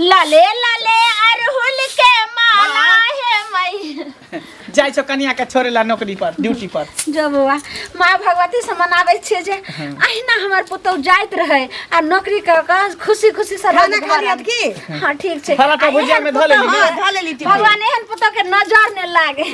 लाले लाले अरहुल के माला है मैया जाइ छौ कनिया के छोड़े ला नौकरी पर ड्यूटी पर जो बौआ माँ भगवती से मनाबै छियै जे अहिना हमर पुतौ जाइत रहै आ नौकरी कऽ कऽ खुशी खुशी से खाना रोजगार खा लियत आनत। की हाँ ठीक छै फराटा आ भुजिया एहन में धऽ लेली पुतहु- ने? हाँ, धऽ लेली टिफिन। भगवान एहन पुतौ के नजर ने लागे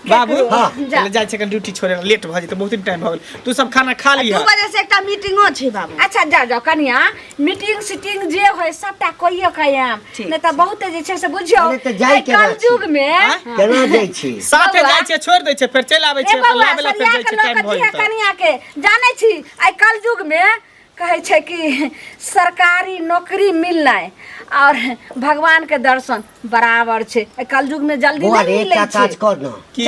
बाबू हाँ। चल जाइ छै ड्यूटी छोड़े ला लेट भऽ जेतै बहुत टाइम भऽ गेल तू सब खाना खा दू लिह बजे से एकटा मीटिंगो छै बाबू अच्छा जा जाओ कनिया मीटिंग सीटिंग जे होय सबटा कहियो के आयम ठीक नहि तऽ बहुते जे छै से बुझियौ अरे तऽ जाय एहि केना छी? कलयुग मे केना जाइ छी साथे बौआ। जाइ छै छोड़ दै छै फेर चलि आबै ए छै बौआ, लाबे ला फेर सरिया जाइ के छै लऽ टाइम के भऽ दिहे जेतै कनिया के जानै छी आइ कलयुग मे कहै छै कि सरकारी नौकरी मिलनाइ और भगवान के दर्शन बराबर छै आइ कलयुग मे जल्दी बौआ नहि रे मिलै एकटा छै काज कर न की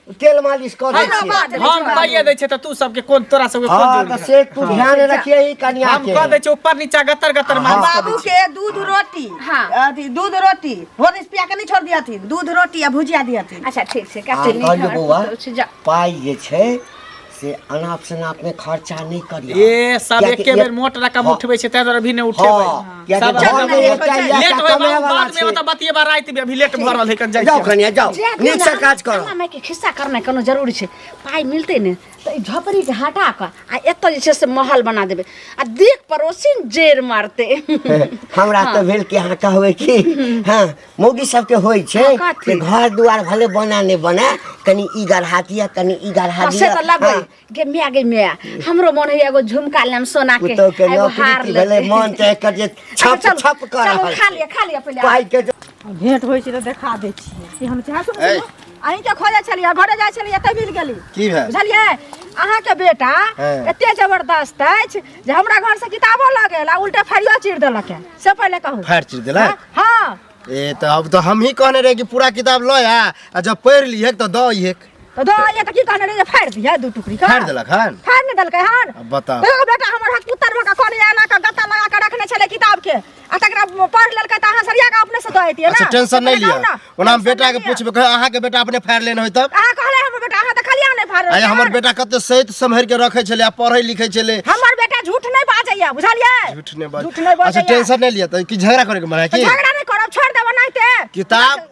तेल मालिश कर दै हमरा बात छियै नहि हम छोड़ा। कहिए दै छियै तऽ तू सबके कोन तोरा सबके कोन हाँ जोड़ तो से तू ध्यान रखिए ही कन्या हम के कह दै छियै ऊपर नीचा गतर गतर मार बाबू के दूध रोटी हाँ। अथी दूध रोटी होरिस पिया के नहीं छोड़ दिया थी दूध रोटी आ भुजिया दिया थी अच्छा ठीक छै आ कहलियै बौआ। जा पाइ जे छै से अनाप शनाप में खर्चा नहीं करियो ए सब किएकि एके बेर एक- मोट रकम हाँ। उठबै छै ताहि दुआरे अभी नहि उठेबै हाँ, किएकि सब घर में एक टा इएह लेट टा होय कमाए बाबू, वाला बाद छै। में ओतऽ बतियेबा राति में अभी लेट भऽ रहल है कन जाइ जाओ छियै। कनिया जाओ नीक से काज करो माय के खिस्सा करनाइ कोनो जरूरी छै पाइ मिलतै ने तऽ ई झोपड़ी के हटा कऽ आ एतऽ जे छै से महल बना देबै आ देख पड़ोसिन जेर मारतै हमरा तो भेल कि अहाँ कहबै कि हाँ मौगी सबके होइ छै हँ, कथी? कि घर दुआर भले बना नहि बना कनि ई गढ़ा दिया कनि ई गढ़ा हँ, से दिया तऽ लगै हाँ, गे मिया गे मिया हमरो मन होइया एगो झुमका लेम सोना के पुतहु के आ एगो नौकरी हार की लेम। भेलै मन चाहे कर जे अच्छा, छप चलू, छप कर चलू, रहल खा लिअ खा लिअ पहिले पाइ के जे- भेंट होइ छै तऽ देखा दै छियै कि हम चाहै छी ए। अहीं के खोजै छलियै घरे जाइ छलियै एतै मिल गेली की भेल बुझलियै अहाँके बेटा हँ। एते जबरदस्त अछि जे हमरा घर से किताबो लऽ गेल आ उल्टे फरियो चीर देलक है से पहिले कहू फाड़ चीर देलक हाँ ए तो अब तो हम ही कहने रहे कि पूरा किताब लो आ आ जब पढ़ लिए तो दो ये तो दो ये तो की कहने रहे जे फाड़ दिया दू टुकड़ी का फाड़ देलक हन फाड़ नहीं देलकै हन अब बताओ देखो बेटा हमर हक पुत्तर में का कोन एना का गत्ता लगा के रखने छले किताब के आ तकरा पढ़ लेलकै तऽ अहाँ सरिया के अपने से दऽ एतियै अच्छा ना टेंशन नहि लिअ ना, ओना हम टेंशन बेटा के नहि लिअ। पूछबै कहे अहाँ के बेटा अपने फाड़ि लेने होय तब अहाँ कहले हमर बेटा अहाँ तऽ खाली अहाँ नहि फाड़ आया हमर बेटा कते सहित सम्हरि के रखे छले आ पढ़े लिखे छले हमर बेटा झूठ नहीं बाजैया बुझलियै झूठ नहि बाज झूठ नहीं अच्छा बाजैया टेंशन नहि लिअ तऽ की झगड़ा करे के मन है तऽ की झगड़ा नहीं करब छोड़ देबो नहीं ते किताब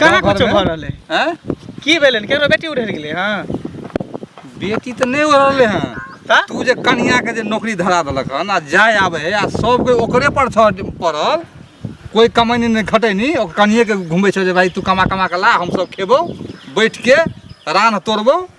कहाँ गाँव कुछो घरमे? भऽ रहलै हैं की भेलै केकरो बेटी उड़ि गेलै हँ बेटी तऽ नहि हो रहलै हँ तऽ तू जे कनिया के जे नौकरी धरा देलक हन आ जाय आबे है आ सब कोई ओकरे पर छ पड़ल कोई कमैनी नहीं खटैनी ओकर कनिए के घुमै छौ जे भाई तू कमा कमा के ला हम सब खेबो बैठ के रान तोड़बो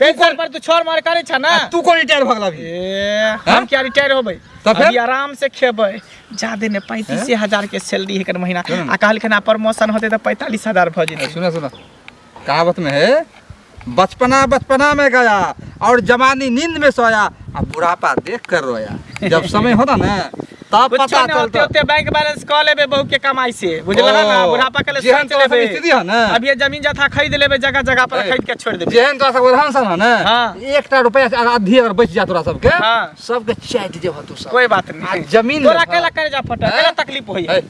तै पर पर तू छोड़ मार करे छ ना तू कोन रिटायर भगला भी ए हम क्या रिटायर होबै त फिर आराम से खेबै जादे ने 35000 के सैलरी हेकर महीना आ कहल खना प्रमोशन होते त 45000 भ जेते सुना सुना कहावत में है बचपना बचपना में गया और जवानी नींद में सोया अब बुढ़ापा देख कर रोया जब समय होता ना तब कुछ पता ना होते चलता होते बैंक बैलेंस कऽ लेबे बहू के कमाई से बुझल है ना ओ, बुढ़ापा के लिए जेहन सोच तोरा लेबे सब स्थिति है ना। अब ये जमीन जथा खरीद लेबे जगह जगह पर ए, खरीद के छोड़ देबे जेहन तोरा सबके रहन सहन है ना हाँ। एकटा रुपया से आधी अगर बच जा तोरा सबके हाँ। सबके चाटि जेबह तू सब कोई बात आ नहीं जमीन तोरा लेबह। कैला करे जा फटा हैं? कैला तकलीफ होई है। ए,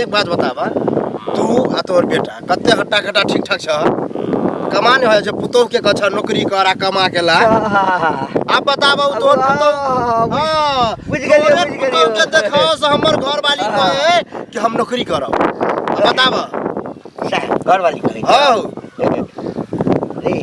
एक बात बताबा तू आ तोहर बेटा कते हट्टा कट्टा ठीक ठाक छ कमा नहीं हो छै पुतोह के कछ नौकरी कर आ कमा के ला आप बताबा उ तोहर पुतोह हां बुझ गेलिए बुझ गेलिए पुतोह के देखो से हमर घर वाली कहे कि हम नौकरी करब बताबा घर वाली कहे हां रे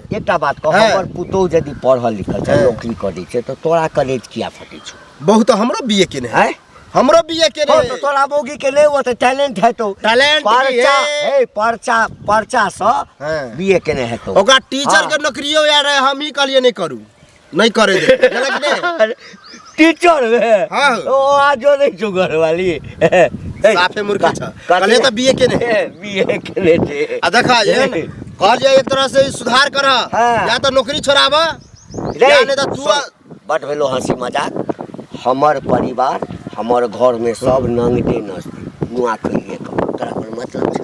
एकटा बात कह हँ। हमर पुतोह यदि पढ़ल लिखल छै हँ। नौकरी करै छै तऽ तोरा कॉलेज किया फटै छौ बहुत तो हमरो बीए केने है हैं हमरो बीए केने हँ, है तऽ तोरा मौगी के नहि ओते टैलेंट हेतौ Talent भी परचा है। हे परचा परचा सँ हँ। बीए केने हेतौ ओकरा टीचर के हँ। नौकरियो यार है, हम ही कहलिए नहीं करू नहीं करे दे गलत नहीं अरे, टीचर बे हाँ। ओ आजो नहीं छु घर वाली साफे मूर्ख छ कले त बीए के ने बीए के ले छे आ देखा ये न, कहल जाए एक तरह से ई सुधार कर हाँ। या तो नौकरी छोड़ाब या नहीं तो तू आ- बट भेलो हंसी मजाक हमर परिवार हमर घर में सब नंगटे नस्ती नुआ कहिए कहो तोरा कोई मतलब छै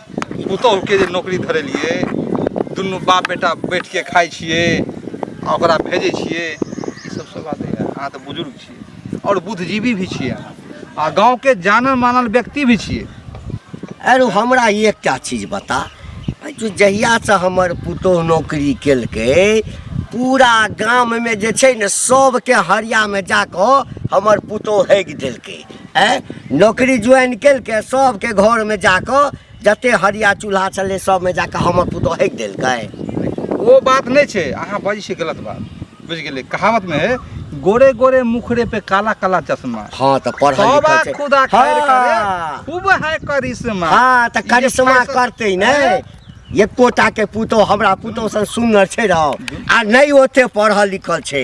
पुतहुके जे नौकरी धरेलियै दुनू बाप बेटा बैठके खाइ छियै आ ओकरा भेजै छियै ई सब सब बात नहि अहाँ तऽ बुजुर्ग छियै आओर बुद्धिजीवी भी छियै अहाँ आ गाँवके जानल मानल व्यक्ति भी छियै अरे हमरा एकटा चीज बता जहियासँ हमर पुतोह नौकरी केलकै पूरा गाममे जे छै ने सबके हरियामे जाकऽ हमर पुतोह हगि देलकै आँय नौकरी ज्वाइन केलकै सभके घरमे जा कऽ जते हरिया चूल्हा छलै सभमे जा कऽ हमर पुतहु हकि देलकै ओ बात नहीं छे अहाँ बजे छे गलत बात बुझ गए कहावत में है गोरे गोरे मुखरे पे काला काला चश्मा हाँ तो पढ़ल तबा लिखल छै। खुदा खैर हाँ। करे खूब है करिश्मा हाँ तऽ ई जे करिश्मा फैशन- करतै ने एकोटा के पुतहु हमरा पुतहु सन सुनर छै रह आ नहि ओते पढ़ल लिखल छै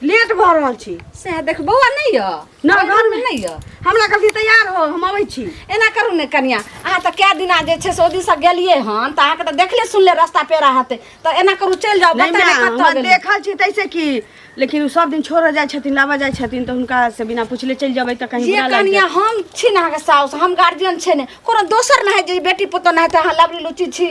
लेट भऽ रहल छी सएह देख बौआ नहि यऽ ना, नहि घरमे घरमे। नहि यऽ हमरा कहलकै तैयार हो हम अबै छी एना करू ने कनिया अहाँ तऽ कए दिना जे छै से ओहि दिनसँ गेलियै हन तऽ अहाँके तऽ देखले सुनले रास्ता पेरा हेतै तऽ एना करू चलि जाउ नहि बता माँ, ने कतऽ हम गेलियै। देखल छी तैसे की लेकिन उ सब दिन छोड़ जाइ छथिन लाबऽ जाइ छथिन तऽ हुनका से बिना पूछले चलि जेबै तऽ कहीं जे बुरा लागि कनिया हम छी ने अहाँके साउस हम गार्जियन छै ने कोनो दोसर नहि है जे बेटी पुतोह नहि है तऽ अहाँ लबरी लुची छी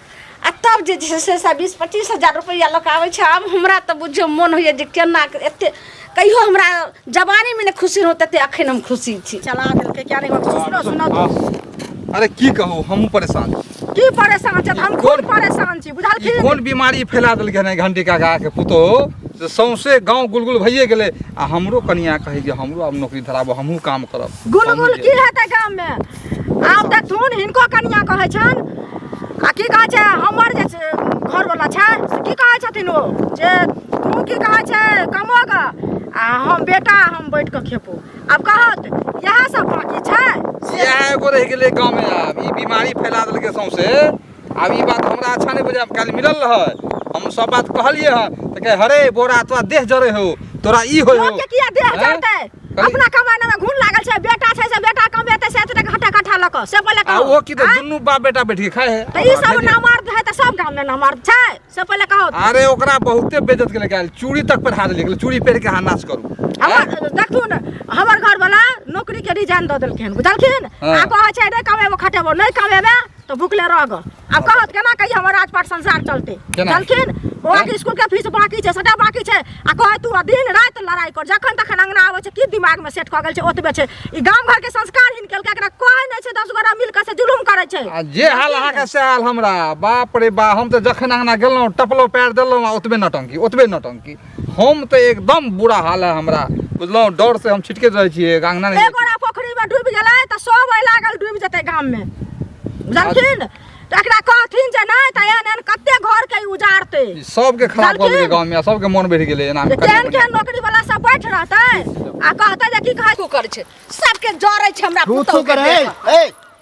आ तब जे छै से से बीस पच्चीस हजार रुपैआ लोक आबै छै आब हमरा तऽ बुझियौ मोन होइए जे केना एते कहियो हमरा जवानीमे नहि खुशी रहौ तते अखन हम खुशी छी चला देलकै किया नहि सुनो सुनो तू। अरे की कहू हमहूँ परेशान छी। की परेशान छै हम कोन परेशान छी ई बुझलखिन कोन बीमारी फैला देलकै हन घंटी काका के पुतो से सौंसे गांव गुलगुल भइए गेलै आ हमरो कनिया कहै जे हमरो आब नौकरी धराबो हमहूँ काम करब गुलगुल हमहूँ की हेतै गाममे आब देखथुन हिनको कनिया कहै छनि आ की कहै छै हमर जे छै घरवला छै से की कहै छथिन ओ जे तू की कहै छै कमो ग आ हम बेटा हम बैठ कऽ खेपो आब कहत इएह सब बाकी छै इएह एगो रहि गेलै गाँवमे आब ई बीमारी फैला देलकै सौंसे आब ई बात हमरा अच्छा नहि बुझाय काल्हि मिलल रहै हम सब बात कहलिए हँ तऽ कहे हरे बोरा तोरा देह जरे हो तोरा ई हो लोग के किया देह जरते अपना कमाने में घुन लागल छै बेटा छै से बेटा कमेते से एते हटा कठा लक से बोले कहो आ ओ की तऽ दुनू बाप बेटा बैठ के खाए है तऽ ई सब ना मार है तऽ सब गांव में ना मार छै से बोले कहो अरे ओकरा बहुते बेइज्जत के लेके आयल चूड़ी तक पर हाथ लेके चूड़ी पहन के हाथ नाश करू हमर देखू ने हमर घर वाला नौकरी के रिजाइन दऽ देलखिन बुझलखिन आ कहै छै नहि कमेबो खटेबो नहि कमेबे तो भूखले रह गो अब कहत केना कही हमर राजपाट संसार चलते केना? चलखिन ओकरा के स्कूल के फीस बाकी छै सटा बाकी छै आ कहे तू आ दिन रात लड़ाई कर जखन तखन अंगना आवे छै की दिमाग में सेट क गेल छै ओतबे छै ई गांव घर के संस्कार हिन केलका एकरा कोई नै छै दस गोरा मिल के से जुलुम करे छै आ जे हाल अहाँके से हाल हमरा बाप रे बा हम तऽ जखन अङ्गना गेलहुँ टपलो पैर देलहुँ आ ओतबे नौटंकी ओतबे नौटंकी हम तऽ एकदम बुरा हाल है हमरा बुझलहुँ डर से हम छिटके रहै छियै अंगना नहि एगोरा पोखरी में डूबि गेलै तऽ सब ओहि लागल डूबि जेतै गाम में बुझलखिन तऽ एकरा कहथिन जे नहि तऽ एहन एहन कते घर के उजाड़ते सबके खराब कऽ देतै गाँव में सबके मन बढ़ि गेलै एना केहन केहन नौकरी वाला सब बैठ रहतै आ कहतै जे की कहै करै छै सबके जरै छै हमरा पुतौ के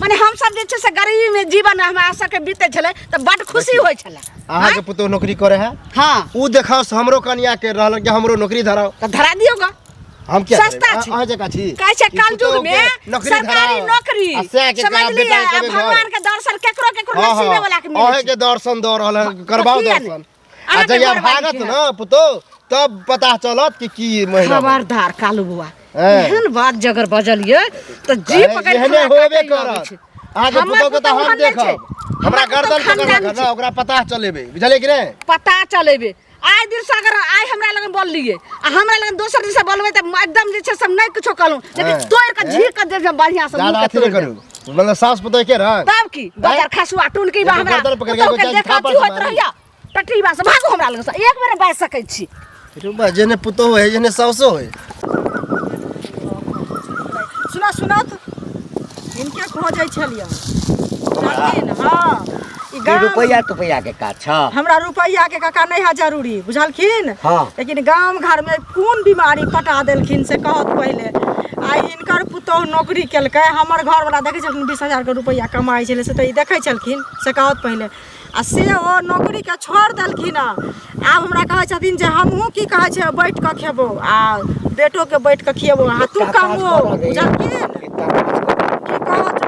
माने हम सब जे छै से गरीबी में जीवन हमरा सबके बीते छले तो बड खुशी होय छले अहाँ के पुतोह नौकरी करे है हां उ देखाओ से हमरो कन्या के रहल के हमरो नौकरी धराओ तो धरा दियो गा हम क्या सस्ता छी अहाँ जका छी कहै छै काल युग में सरकारी नौकरी समझ लिया भगवान के दर्शन केकरो केकरो नसीब वाला के मिले अहाँ के दर्शन द रहल है करबाओ दर्शन आ अरे जहिया बड़ भागत बाड़ी ना पुतो तब पता चलत कि की महिला खबरदार कालू बुआ हैं। एहन बात जगर बजलिए तो जी अरे, पकड़ एहने होबे करत आज पुतो के त हम देखब हमरा गर्दन पकड़ के ना ओकरा पता चलेबे बुझले कि नहीं पता चलेबे आए दिन से अगर आए हमरा लगन बोल लिए आ हमरा लगन दोसर दिन से बोलबे त एकदम जे छै से हम नहीं कुछो कहलूं लेकिन हैं। तोड़ के हैं। झीक के दे बढ़िया से मुंह ज्यादा के अथी तोड़ नहीं दे। करू मतलब सास पता है क्या रहा तब की बजर खसुआ टून की बा एगो हमरा गर्दन पकड़ के एगो जांघ फाड़ होत मारी। रहैया टटरी बा से भागो हमरा लग से एक बेर बाज सकै छी रुबा जेने पुतो है जेने सासो है सुना सुना तो इनके खोजै छलियै जानलियै ने हाँ ई ई गाम- रुपैआ तुपैआ के काज छ हमरा रुपैया के काका नहीं है जरूरी बुझलखिन हाँ। लेकिन गांव घर में कौन बीमारी पटा देलखिन से कहत पहले आई एकर पुतहु नौकरी केलकै हमर घरवला देखै छलखिन बीस हजारके रुपैआ कमाइ छलै से तऽ ई देखै छलखिन से कहत पहिले आ से ओ नौकरीके छोड़ि देलखिन हँ आब हमरा कहै छथिन जे हमहूँ की कहै छै बैठ कऽ खेबो आ बेटोके बैठ कऽ खियेबो आ तू कमो बुझलखिन की कहत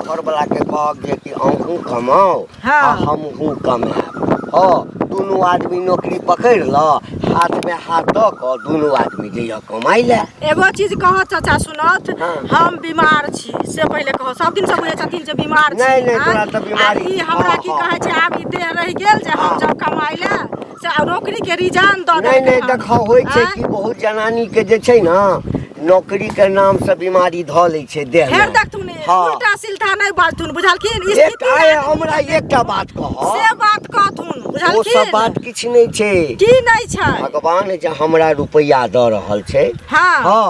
घरवलाके कहब जे कि अहूँ कमाउ आ हँ हमहूँ कमायब हँ दुनू आदमी नौकरी पकड़ि लऽ हाथमे हाथ दऽ कऽ दुनू आदमी जइहऽ कमाइ लए एगो चीज कहऽ चाचा सुनत हँ। हम बीमार छी से पहिले कहऽ सब दिन से बुझै छथिन जे बीमार छी नहि, नहि, आँय? तोरा तऽ बीमारी- आ ई हमरा हँ, की हँ। कहै छै आब ई देह रहि गेल जे हम हँ। जब कमाइ लए से आ नौकरी के रिजान दऽ नहि देलकै नहि हन। देखा होइ छै आँय? कि बहुत जनानी के जे छै ने नौकरी के नाम से बीमारी धऽ लै छै देह फेर देखथुन हँ। उल्टा सिल्टा नहि बाजथुन बुझलखिन एक स्थिति आय आदमी हमरा के एकटा बात से कह बात कहथुन ओ सब बुझलखिन बात किछु नहि छै की नहि छै भगवान जे हमरा रुपैआ दऽ रहल छै हाँ हाँ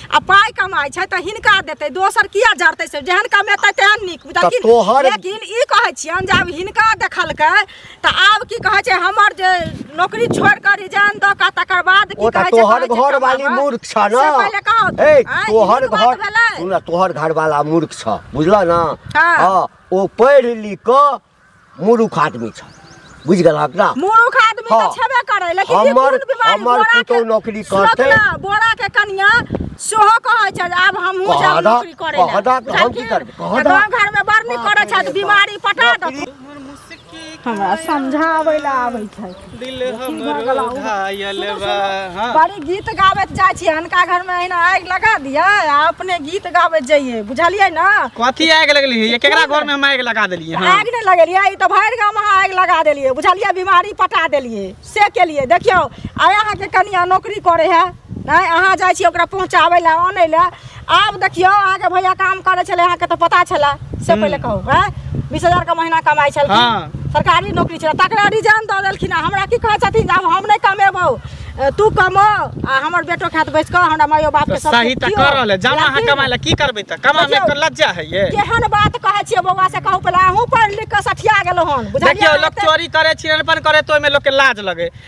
आ पाय कमाइ छै तऽ हिनका देतै दोसर किया जरतै से जेहन कमेतै तेहन नीक लेकिन तोहर लेकिन ई कहै छियनि जे आब हिनका देखलकै तऽ आब की कहै छै हमर जे नौकरी छोड़ कऽ रिजाइन दऽ कऽ तकर बाद की कहै छै तोहर घर वाली मूर्ख छ ने पहिले कहो ए तोहर घर तोहर घर वाला मूर्ख छ बुझलऽ ने हां ओ पढ़ि लिख कऽ मूर्ख आदमी छ बुझ गेल हक ना मूर्ख आदमी त हाँ। छेबे करे लेकिन ई हमर कोन बीमारी हमर बोरा के पुतौ नौकरी सुनत करते ना, बोरा के कनिया सेहो कहै छै जे आब हमहूँ कह जाब दा, नौकरी करे कह दा, तऽ हम की करबै, कह दा। गाँव घर में बड़ नीक करे छै बीमारी पटा दे हमरा समझाबै लए आबै छै दिल हमरो घायल बा हाँ बड़ी गीत गाबैत जाइ छी अनका घरमे अहिना आगि लगा दियै आ अपने गीत गाबैत जइयै बुझलियै ने कथी आगि लगली है केकरा घर में हम आगि लगा देलियै हाँ आगि नहि लगेलियै ई तऽ भरि गाम अहाँ आगि लगा देलियै बुझलियै बीमारी पटा देलियै से केलियै देखियौ आइ अहाँके कनिया नौकरी करे है नहि अहाँ जाइ छियै ओकरा पहुँचाबै लए आनै लए आब देखियौ अहाँके भैया काम करै छलै अहाँके तऽ पता छलै से पहिले कहू है बीस हजार के महीना कमाइ हँ। छलखिन सरकारी नौकरी छलै तकरा रिजाइन दऽ देलखिन आ हमरा की कहै छथिन जे आब हम नहि कमेबौ अ, तू कमो आ हमर बेटो खात बैस कऽ हमरा मायो बाप तऽ के सब सही तऽ दियौ। कर रहल है जाना अहाँ लेकिन कमाए लए की करबै तऽ कमामे देखियौ। एकर लज्जा है ये केहन बात कहै छियै बौआ से कहू पहिले अहूँ पढ़ि लिख कऽ सठिया गेलहुँ हन बुझलियै देखियौ लोक अहाँ? चोरी करे छिरनपन करे तो ओहिमे लोकके लाज लगे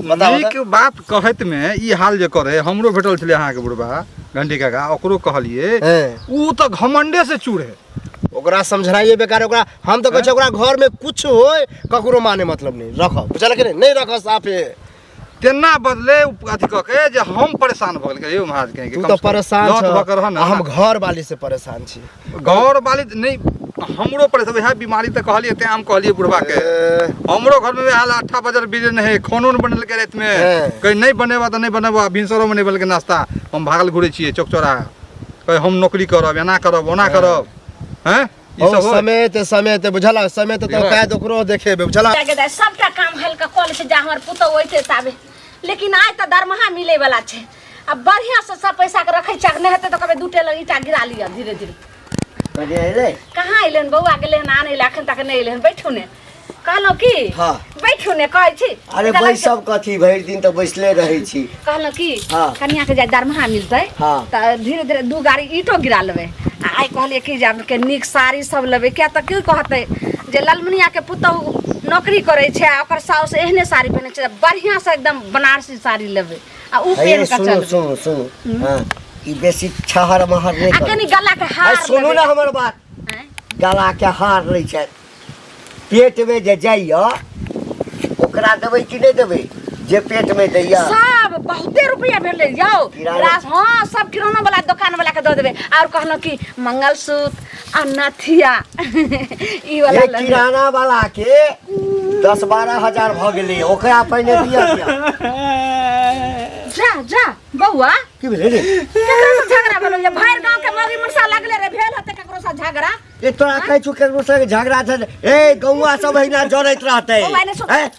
बताउ नीक बात कहत में ई हाल जे करे हमरो भेटल छले अहाँ के बुढ़बा घंटी काका ओकरो कहलिए हैं। ऊ तो घमंडे से चूर है ओकरा समझनाइए बेकार है, ओकरा हम तो कहै ओकरा घर में कुछ होय ककरो माने मतलब नहीं रख बुझल के नहीं नहीं रख साफे तेना बदले उ अथी कह के जे हम परेशान भ गेल यौ महाराज कहे के तू कम तो से कम परेशान लौट भऽ के रह छह ने। आ हम घर वाली से परेशान छी घर वाली त नहीं हमरो पर से वएह बीमारी त कहलिए ते हम कहलिए बुढ़वा के ए, हमरो घर में वएह हाल अट्ठा बजल बीजे नहीं खानो नहीं बनल के रात में हैं। कहीं नहीं बनेबा तो नहीं बनेबा भिनसरो में नहीं बनल के नाश्ता हम भागल घुरे छिए चौक चौरा कहीं हम नौकरी करब एना करब ओना करब हैं ई ओ सब होय? समय ते समय ते बुझला समय ते तो बुझला। कायद ओकरो देखेबे बुझला जाके दे सबटा काम हल्का कॉल से जा हमर पुतौ ओइते ताबे लेकिन आइ त दरमाहा मिले वाला छै आ बढ़िया से सब पैसा के रखे चाक नहीं हेते तो कबे दू टेलर ईटा गिरा लिया धीरे धीरे कभी अइले कहाँ अइलन बौआ गेले हन आने ले अखन तक नहीं अइले हन बैठू ने कहलहुँ की हाँ। बैठू ने कहै छी अरे कहलक बैस सब कथी भरि दिन तऽ बैसले रहै छी कहलहुँ की हाँ। कनिया के जाय दरमाहा मिलतै हाँ। तऽ धीरे धीरे दू गाड़ी ईटो गिरा लेबै आ आइ कहलियै कि जे आब के नीक साड़ी सब लेबै किया तऽ की कहतै जे ललमुनिया के पुतहु नौकरी करै छै आ ओकर साउस एहने साड़ी पहिनै छै तऽ बढ़िआँसँ एकदम बनारसी साड़ी लेबै आ उ हे, पेन का सुनू चल सुनू सुनू हाँ ई बेसी छहर महर नहीं आ करू कनी गला के हार अरे सुनू ना हमर बात हैं? गला के हार लै छै पेट में जे जाइया ओकरा देबै कि नहीं देबै जे पेट में दैया सब बहुते रुपया भेले जाओ किराना- रास हाँ सब किराना वाला दुकान वाला के दे देबे और कहलो कि मंगलसूत्र आ नथिया ई वाला एक लऽ ले। किराना वाला के दस बारह हजार भऽ गेलै ओकरा पहिने दिया दिया जा जा बौआ की भेलै रे केकरा से झगड़ा भेलो ये भैर गांव के मौगी मुरसा लगले रे भेल हते केकरो से झगड़ा ए तोरा कहै छु केकरो संगे झगड़ा छै ए गौवा सब अहिना जरैत रहतै बौआ ने सुन ए,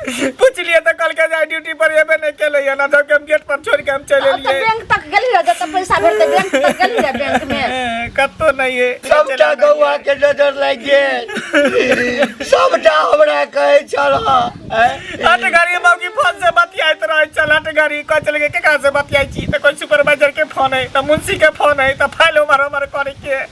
पूछलिए त कल के जाय ड्यूटी पर एबे नहीं केले या ना तो के हम गेट पर छोड़ के हम चले अब तो लिए बैंक तक गेली रह जब पैसा भरते बैंक तक गेली रह बैंक में कत्तो नहीं है सबटा गौआ के नजर लागि गेल सबटा हमरा कहै छल हट गाड़ी मौकी फोन से बतियाइत रहे चल हट गाड़ी कह चल के केकरा से बतियाई छी त कोई सुपरवाइजर के फोन है त मुंशी के फोन है त फाइल उमर उमर करे के